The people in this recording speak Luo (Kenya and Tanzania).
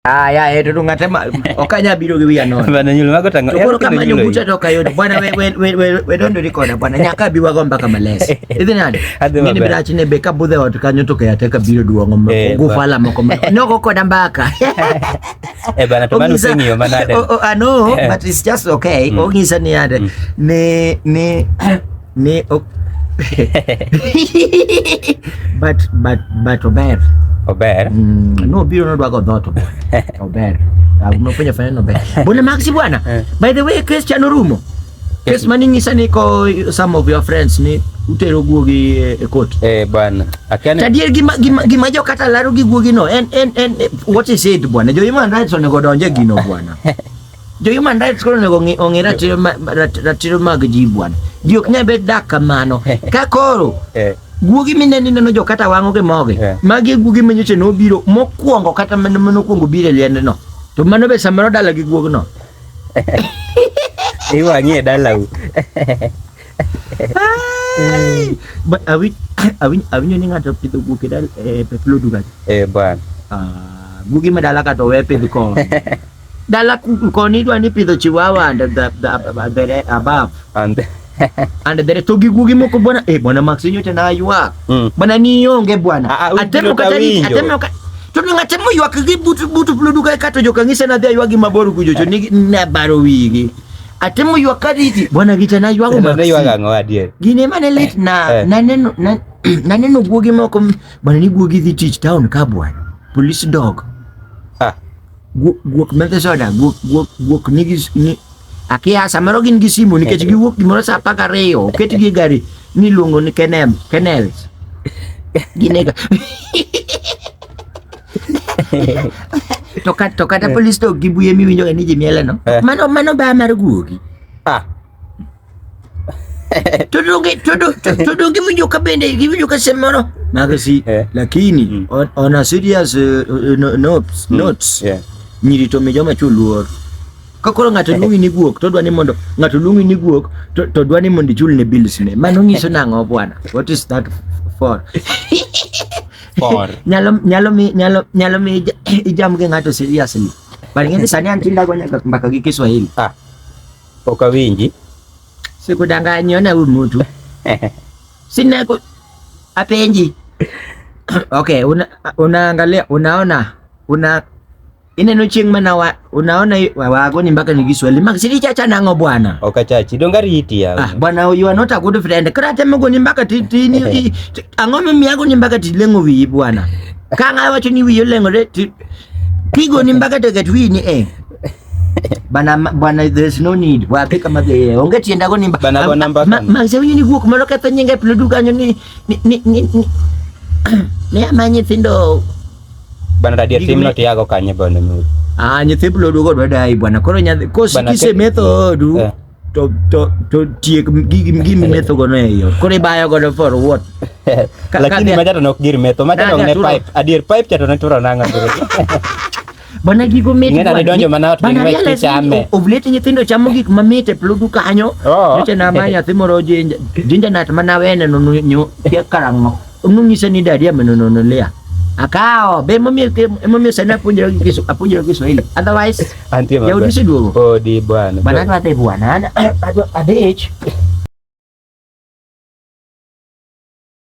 Ah, ya eto eh, tungatema okanya biro gi wiya nono. Bana nyulo mago tango. Koro kama nyunguta to kayo bwana we we we we we don't record bwana nyaka biwa go mpaka males. Idhi nani? Mimi bila chine be ka budhe watu kanyo to kaya teka biro duongo mo. Eh, Gufala mo ko. No go koda mbaka. Eh bana to manu singi yo manade. Oh, oh, I know eh. but it's just okay. Mm. Ogisa ni ade. Mm. Ne ne ni ok but but but ober Ober. mm, no biro nodwago dhoto bwana. ober Ah, umefanya fanya no ober bwana maxi bwana Eh. by the way case cha norumo case mani nyisa ni ko some of your friends ni utero guogi e, e court Eh, bwana. Akiani tadier gima gima gima jo kata laro gi guogi no en en en eh, what is it bwana jo human rights onego donje gino bwana Jo human rights koro onego ong'i- ong'i ratiro ma- rat- ratiro mag ji bwana. Ji ok nyal bet dak kamano. Ka koro Eh, guogi mine ni neno jo kata wang'o gi mogi Yeah. magi e guogi manyocha nobiro mokwongo kata mane mane okwongo biro e liendno to mano be samoro dala gi guogno iwang'ie dalau Ai! Ba- awi- awi- awinjo ni ng'ato pidho guok e dal- e peplodu kacha Eh, bwana Ah, guogi ma dala ka to we pidh kor Dala koni dwa ni pidho chihuahua and the, the, the, the above. And the, and the to gigugi moko bwana eh bwana Max nyote na aywa. Mm. Bwana ni yonge bwana. Ah, ah, atemo katani atemo katani to ni ng'ate moywak gi butu butu pludu ka kato jo kanisa na dhia ywagi mabor kujo to ni na baro wigi ate moywak ka diti bwana gita na ywago ma ne ywaga ngo adier gine mane lit na eh. na neno na na neno guogi moko bwana ni guogi dhi tich town ka bwana police dog ah Guok metho soda, guok, guok, guok nigi ni akia samoro gin gi simu nikech giwuok gimoro sa apar gariyo oketgi e gari ni iluongo ni kenem kenels ginega to kat to kata polis to gibuye miwinjo ga ni jimieleno Eh. mano mano ba mar guogi Ah, tudungi tudu, tudungi mjuka bende mjuka semono magasi yeah. lakini mm. on, on a serious uh, uh no, notes, mm. notes yeah. nyirito mijoma chuluor kakoro ng'ato luongi ni guok to dwa ni mondo ng'ato luongi ni guok to dwa ni mondo ichul ne bills ne mano nyiso nang'o bwana what is that for for nyalo nyalo mi nyalo nyalo mi ijam gi ng'ato seriously but ng'e sani an tindago nyaka mbaka gi Kiswahili ah Pok awinji. Sikudanganyi, ona huyu mtu. Sina ku... apenji. Okay, una, unaangalia, unaona, una ineno chieng' mana wa, unaona wago ni mpaka ni Kiswahili mak sili chacha nango bwana okachachi donga riti ya ah bwana you are not a good friend kra temo go ni mpaka titini yeah. ang'o mimiyago ni mpaka tilengo wiyi bwana kang'a wacho ni wiyi olengore tigo ni mpaka teket wiyi ni eh bana bwana there's no need wa peka ma be onge tienda go nimba bana bana mba ma ma se ni guok malo ka tanye ngai plo duka ni ni ni ni ne amanye tindo bana radio tim no tiago kanye bana mu ah ni te plo dugo do dai bwana koro nya ko si kise meto du eh. to to to tiek gigi gigi meto go no yo kore bayo go for what lakini majata nok gir meto majata nok ne pipe adir pipe chato ne turo nanga Bana gigo mit. Ngena ne donjo mana to ngwe ti chame. Ovleti nyithindo chamo gik ma mit e pludu kanyo. Oh. Nyocha na ma nyathi moro jinja jinja nat mana wene no nyo kia karango. Unu nyise ni dadia meno no lia. Akao, be mami ke mami sana punjira kisu apunjira kisu ile. Otherwise, anti ya udisi dulu. Oh di bwana. Bana kwa te bwana. Ada age.